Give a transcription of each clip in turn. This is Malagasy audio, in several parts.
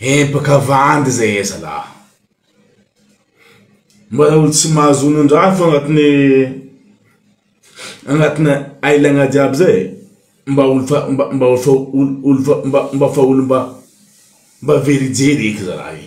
Empaka vandy zay e zalah. Mbola olo tsy mahazo onon-drafy agnatin'ny agnatin'ny ailagna jiaby zay e. Mba olo fa mba mba olo fa olo olo fa mba mba fa olo mba mba very jery eky zalah e.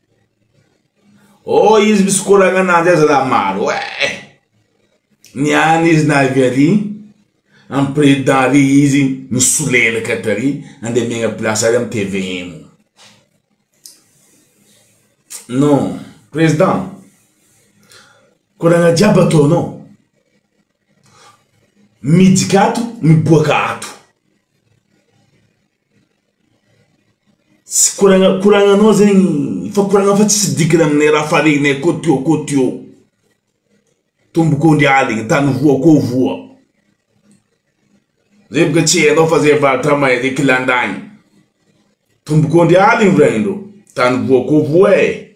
Oh izy misy koragna ananjy aza raha maro eh! Ny any izy na avy ary amin'ny président ary izy misolelaka eto ary andeha miaigna place ary amin'ny tvm. Non, président, koragna jiaby ataonao, mijika ato, miboaka ato. Tsy koragna koragnanao zegny fa koragna fa tsisy dikany aminay raha fa regnay koa teo koa teo tombo koa ndry aligny tany voa koa voa zay boka tsy hainao fa zay vatra mahay zay kilandaigny tombo koa ndry aligny vrahin-dreo tany voa koa voa eh.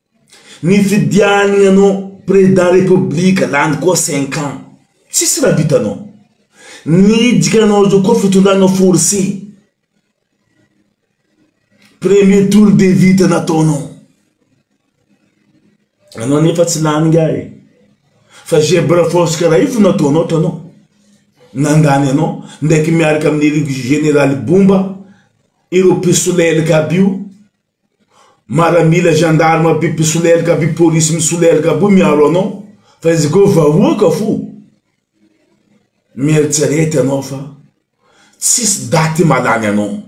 Nifidiany anao president republique lany koa cinq ans tsisy raha vitanao. Ny hidika anao zao koa fitondrana force. Premier tour de vita nataonao. Anao anefa tsy lany ingahy e. Fa zebra force karaha io fo nataonao hitanao. Nandany anao ndraiky miaraka amin'ny général bomba ireo mpisolelaka aby io. Maramila gendarme aby mpisolelika aby polisy misolelika aby miaro anao fa izy ko vahoaka fo mieritserety anao fa tsisy daty malany anao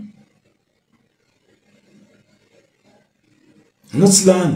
anao tsy lany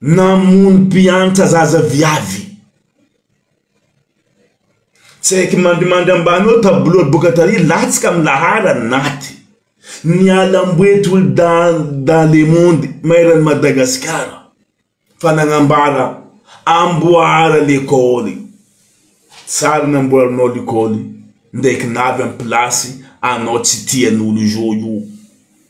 Namono mpiantra zaza viavy. Tsy haiky mandrimandry ambany eo tableau boka tary latsaka amin'ny laharany naty. Niala amboe tolo dahy dans le monde maeran'i Madagasikara fa nagnambara amboara lekôly. Tsara namboarinao lekôly ndraiky navy amin'ny place anao tsy tian'olo zo io.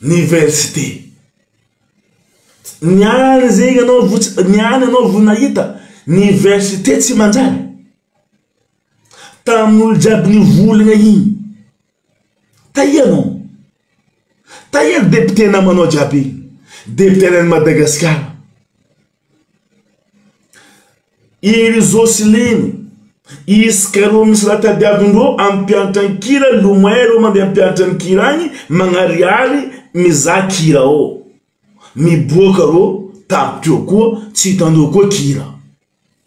Niversite. Ny any zay ianao vo tsy, ny any ianao vo nahita niversite tsy manjary. Tamin'olo jiaby nivolagna igny. Taia anao? Taia depiote namanao jiaby igny? Depiote any Madagasikara. I Roselyne, i Scaro misy raha tadiavin-dro amin'ny mpiantra ny kira, lomay ireo mandeha mpiantra ny kira any, magnarihary mizaha kira ao. Miboaka ireo tavy teo koa, tsy hitan-dro koa kira.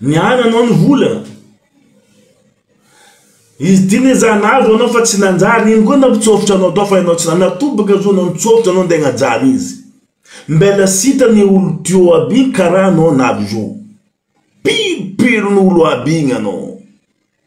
Ny ahy nanao ny volana. Izy ty ne za nahazo anao fa tsy nanjary iny koa nampitsofotra anao tao fa ianao tsy nanatobaka zao anao nitsofotra anao nde nahajaly izy. Mbela sita ny olo teo aby iny karaha anao nahazo. Piripirin'olo aby iny anao.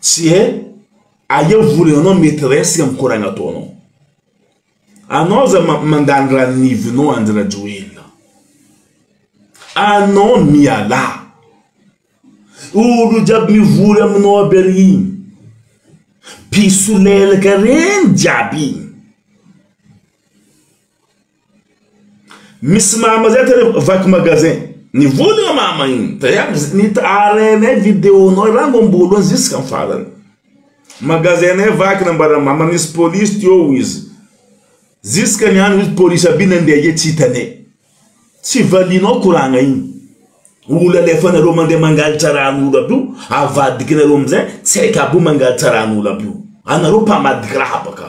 Tsy he aia vola anao mety resaka am koragna ataonao. Anao za mandany ranivinao Andry Rajoelina. Anao mialà. Olo jiaby mivory aminao aby ary igny. Mpisolelaka regny jiaby igny. Misy mama zay tena vaky magasin. Ny vola io mama iny. Taiavy arenay video nao rango ambolohany ziska ny farany. Magasin nay vaky nambaran'ny mama nisy police teo hoy izy. Ziska ny andro izy police aby nandeha anie tsy hitanay. Tsy valianao koragna iny. Olo alefanareo mandeha mangalatra ran'olo aby io avadikinareo amizay tsy haiko aby io mangalatra ran'olo aby io. Anareo mpamadika raha baka.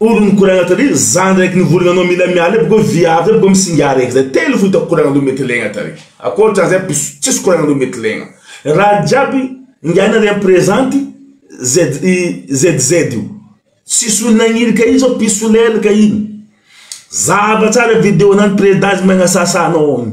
Olo mikoragna tary za ndraiky nivory nanao mila miala aby ko viavy aby ko misinga raiky zay telo fo hitako koragna loha mety legna tary akoatran zay piso tsisy koragna loha mety legna raha jiaby ingahy nare ampirezenty ZZ io tsisy olo nagniry ka iny zao piso lel ka iny zava tsara video nany predazy magnasasa anao agny.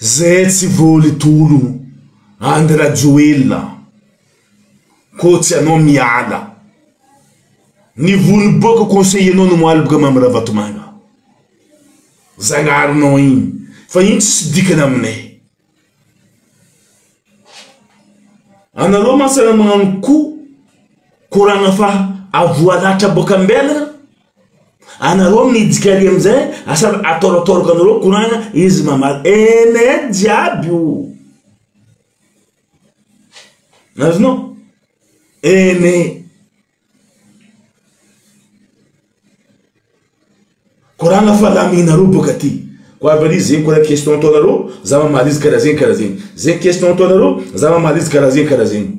Zay tsy voly tolo Andry Rajoelina ko tsy anao miala Ny voly boka conseiller nao no maloka Mamy Ravatomanga Zagnarinao igny fa igny tsisy dikany aminay Anareo mantsy raha magnano ko koragna fa avoalatra boka ambela. Anareo midika ary amizay asa ataoratôraka anareo korana izy mamaly ene jiaby o azonao ene korana fa laminareo boka ty ko avy ary zegny korana question ataonareo za mamaly izy karaha zegny karaha zegny zegny question ataonareo za mamaly izy karaha zegny karaha zegny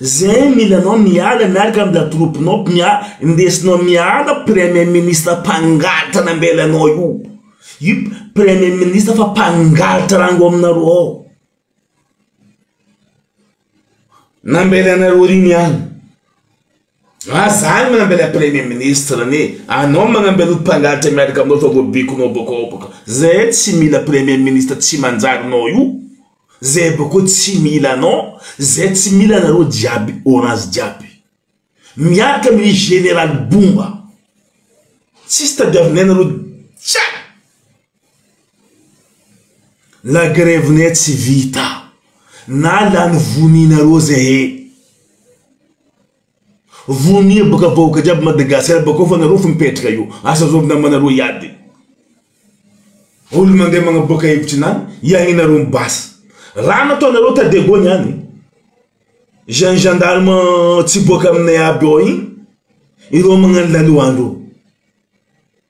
Zay mila anao miala miaraka am la troupe nao mia ndesinao miala premier ministre mpangalatra nambela anao io io premier ministre fa mpangalatra rano ao aminareo ao nambela anareo ry niala. Raha zany manamby ilay premier ministre anie anao manamby an'io mpangalatra miaraka aminao fa voabikonao boko ao boko zay tsy mila premier ministre tsy manjary nao io zay boko tsy mila anao zay tsy mila anareo jiaby orange jiaby miaraka amin'i general bomba tsisy tadiavinay nareo jiaby La grève ne tsy vita na lany vonianareo zehe vonia boka vahoka jiaby Madagascar bakao fa nareo fo mipetraka eo asa zao namanareo hiady olo mande magnaboaka hevitry nany hiainareo ny basy raha nataonareo ta Diego niany zany gendarme tsy boaka aminay aby ao igny ireo magnano laloandro.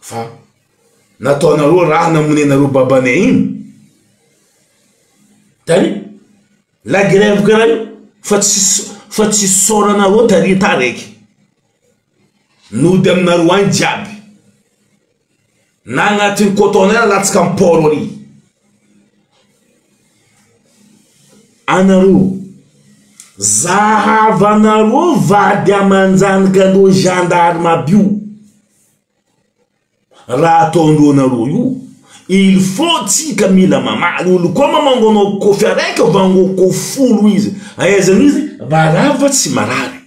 Fa nataonareo raha namonenareo babany ahiana tary la grève karaha io fa tsy fa tsy isaoranareo tary tara eky. Nody aminareo any jiaby. Na agnatin'ny cotonner alatsaka am port ary. Anareo. Zahavanareo vady amanjanaka ndreo gendarme aby io. Raha ataondreo anareo io. Il faut tsika mila mamaly olo koa mamango anao kofy araiky vangoko folo izy. Aizano izy marary va tsy marary.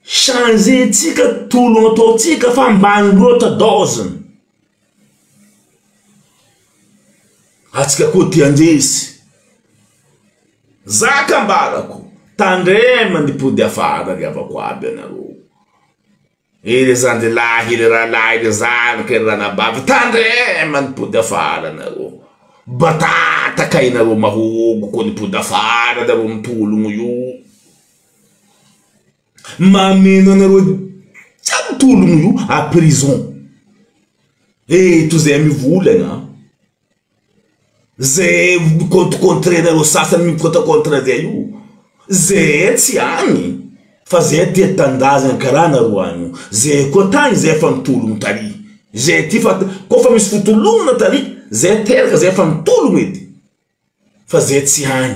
Changer tsika tolona ataontsika fa ambany loatra dose ny antsika koa te handresy, zaka ambarako tandrema ny mpody afara ry havako aby anareo. Ire zandry lahy ire rahalahy ire zandriko ire ranabavy tandrema ny pody afara nareo batata kay nareo mahogo ko ny pody afara nareo mitologno io mameno anareo jiaby mitologno io a prison eto zay mivolagna a. Ze mi-contre-contrenareo sasany mi-contre-contre zay io, ze tsy any fa ze te tanindrazana karaha nareo any io, ze koa tany zay efa nitologno tary, ze ty fa koa fa misy fitolognana tary zay teraka zay efa nitologno edy fa ze tsy any.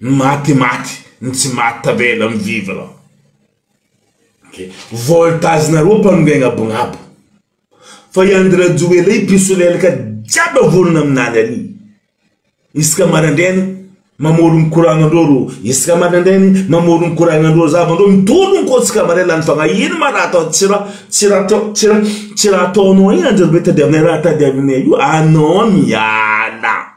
Maty maty ny tsy maty tavela mi vivre ok voltage nareo mpanongaina agnabo fa i Andry Rajoelina io mpisolelaka jiaby vonona aminany ary isaka maraindraina mamorogno courant nareo ro isaka maraindraigny mamorogno courant nareo za nareo mitologno ko isaka maraina lany fagna ino ma raha atao tsy raha tsy raha atao tsy raha tsy raha ataonao igny Andry rajoelina tadiavinay raha tadiavinay io anao miala.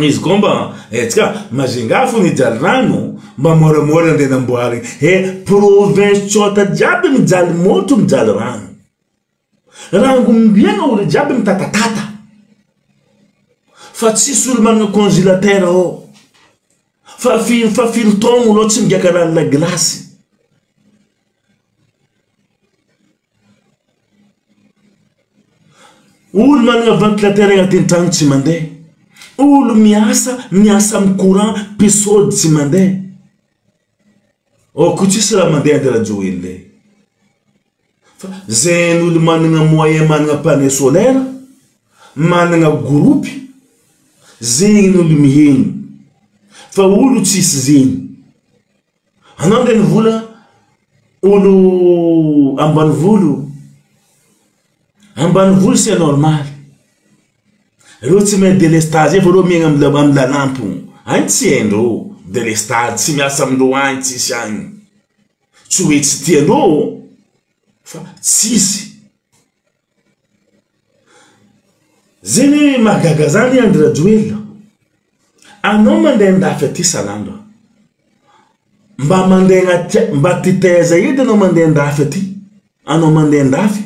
Izy koa mba hetsika Majunga fony hijaly rano mba moramora andeha namboary he province tsôta jiaby mijaly môtro mijaly rano rangombiana olo jiaby mitatatata fa tsisy olo manana congilatera ao fa firy fa firy taogno anao tsy migaka lalina gilasy Olo manana ventilateur agnaty an-trano tsy mandeha, olo miasa miasa amin'ny courant mpe sode tsy mandeha, ôko tsisy raha mandeha nde rajoelina e, fa zegny olo manana moyen manana panneau solaire, manana groupe zegny olo mihena fa olo tsisy zegny. Anao renivola olo ambanivolo, ambanivolo c'est normal, reo tsy mahay delestage io fa reo miaigna am am lalampo, any tsy haindreo delestage, tsy miasa amindreo any, tsisy any, tsy hoe tsy tiandreo ô fa tsisy. Zeny hoe mahagaga zany Andry Rajoelina, anao mandeha an-dafy aty salama, mba mandeha agnaty a- mba aty taiza edy anao mandeha an-dafy aty, anao mandeha an-dafy,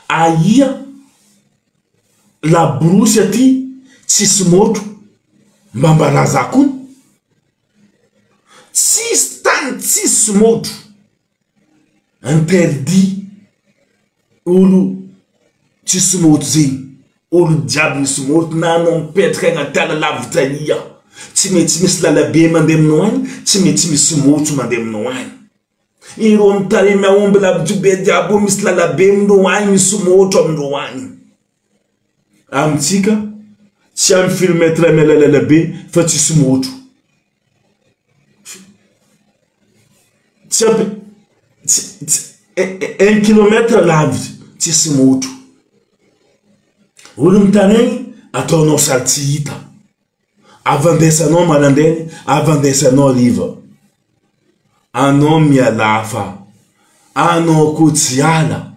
ahia laborosy aty tsisy môtro, mba ambara za koa, tsisy tany tsisy môtro. Interdit olo tsy smooth zegny, olo jiaby ny smooth na anao mipetraka agnaty ala lavitra aia, tsy maintsy misy lalabe mandeha aminao agny, tsy maintsy misy smooth mandeha aminao agny, ireo am tarehy mahomby lavitra be jiaby io misy lalabe amindreo agny, misy smooth amindreo agny. Amintsika tsy any film très mlalaila be fa tsisy motro. Tsy ampy un kilomètre lavitra tsisy motro. Olom-taraigny ataonao sady tsy hita. Avy andraisanao maraindraina, avy andraisanao hariva. Anao mialà fa anao koa tsy hiala.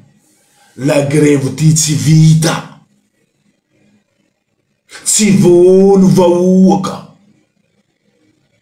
La grève ity tsy vita. Tsy voaolo vahoaka.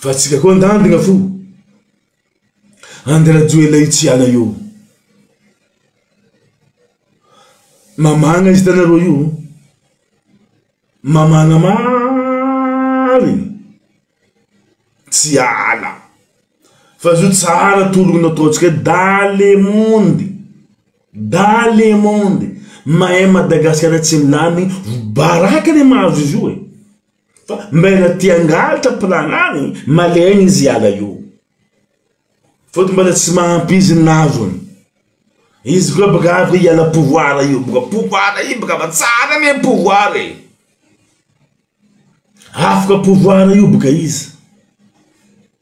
Fa tsika koa andandigna fo Andry Rajoelina io tsy hiala io. Mamagna izy hitanareo io mamagna marigny tsy hiala fa zao tsara tologno nataontsika hoe dans le monde dans le monde mahay Madagasikara tsy lany baraka le mahazo izy io e. Fa mbaina te hangalatra planany malemy izy hiala io. Fôtony mbala tsy mahampy izy ny navony. Izy koa baka avy hoe hiala pouvoir io baka pouvoir io baka fa tsara anie pouvoir e. Afaka pouvoir io baka izy.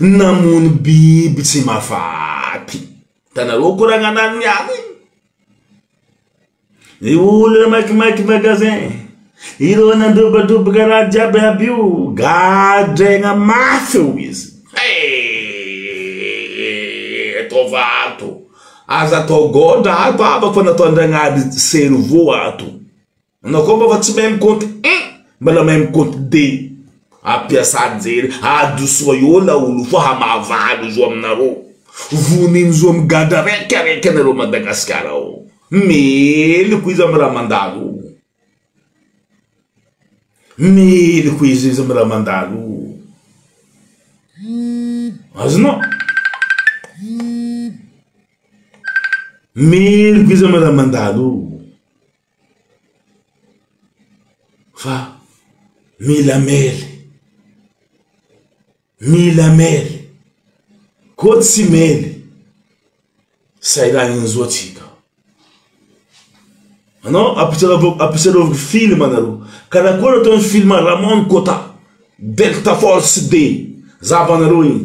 Namono biby tsy mafaty. Hitanareo ko raha nanano ny ahy iny. Ny olona makimaky magasin, ireo nandrobatroboka raha jiaby aby io gadraina mafy eo izy. Hey! Ataova ato. Aza atao gaondra ato havako fa nataon'Andragnahary cerveau ato. Anao koa mba fa tsy mahay mikompte un mbala mahay mikompte deux ampiasa anjely adosoa eo laolo fa hamahavaly zo aminareo vonin zo migadra raika raika anareo Madagascar ao meloka izy am raha mandalo meloka izy izy am raha mandalo azonao meloka izy am raha mandalo Fa mila mely, mila mely, koa tsy mely zay raha injao tsika. Anao ampisarovy film nareo, karakory atao ny film ramon kota, delta force de zava nareo iny.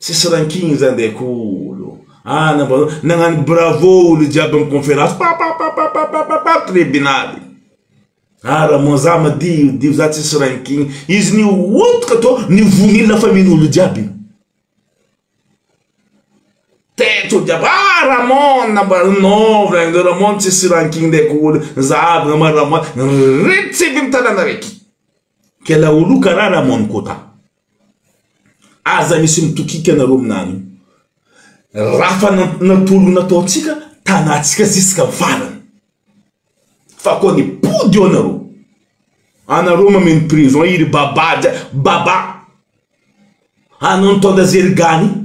Tsisy ranking zany dia kolo ah nampanao nagnano bravo olo jiaby am conférence papapapapapapa tribunaly ah ramon za madio dio za tsisy ranking izy nihotika to nivonila fa mino olo jiaby io teto jiaby ah ramon nampanao non vraiment ramon tsisy ranking dia kolo za aby nama ramon ritsy aby am tanana raiky kela olo kara ramon kota Aza misy mitokika nareo aminany io. Raha fa natolo nataontsika tanatsika ziska valiny. Fa koa ny pody eo nareo. Anareo mameno prison i ry baba baba. Anao nitondra zerigany io.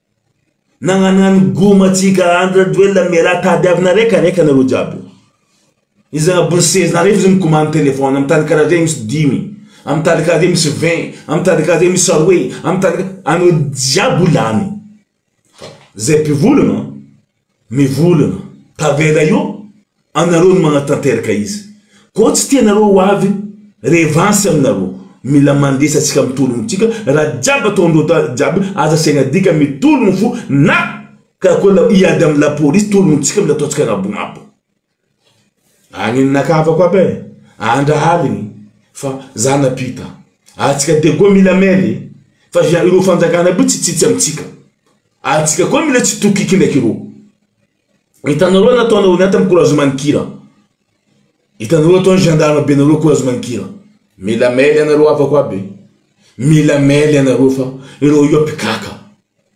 Nagnanano goma antsika Andry Rajoelina mialà tadiavina reka reka nareo jiaby Izy zagna bruxelles nareo izy mikomany téléphone am tany karaha zay misy dimy am tany karaha zay misy vingt am tany karaha zay misy roe am tany anao jiaby ho lany fa zay mpivolagna Ny volana. Tavela io anareo no manatanteraka izy ko tsy tianareo ho avy revanche aminareo mila mandresy atsika mitologno tsika raha jiaby ataondreo ta jiaby aza asiagna dika mitologno fo na karakory la hiady amy la police tologno tsika mila ataontsika anabonabo. Agnino nakavako aby e! Andra aligny fa za napita. Atsika dia koa mila mele fa zia ireo fanjakana aby tsy tsitsy amitsika. Atsika koa mila tsy tokiky ndraiky ireo. Hitanareo nataonareo niaty am courage manikira. Hitanareo ataony gendarme be nareo courage manikira. Mila mele anareo havako aby e. Mila mele anareo fa ireo io mpikaka.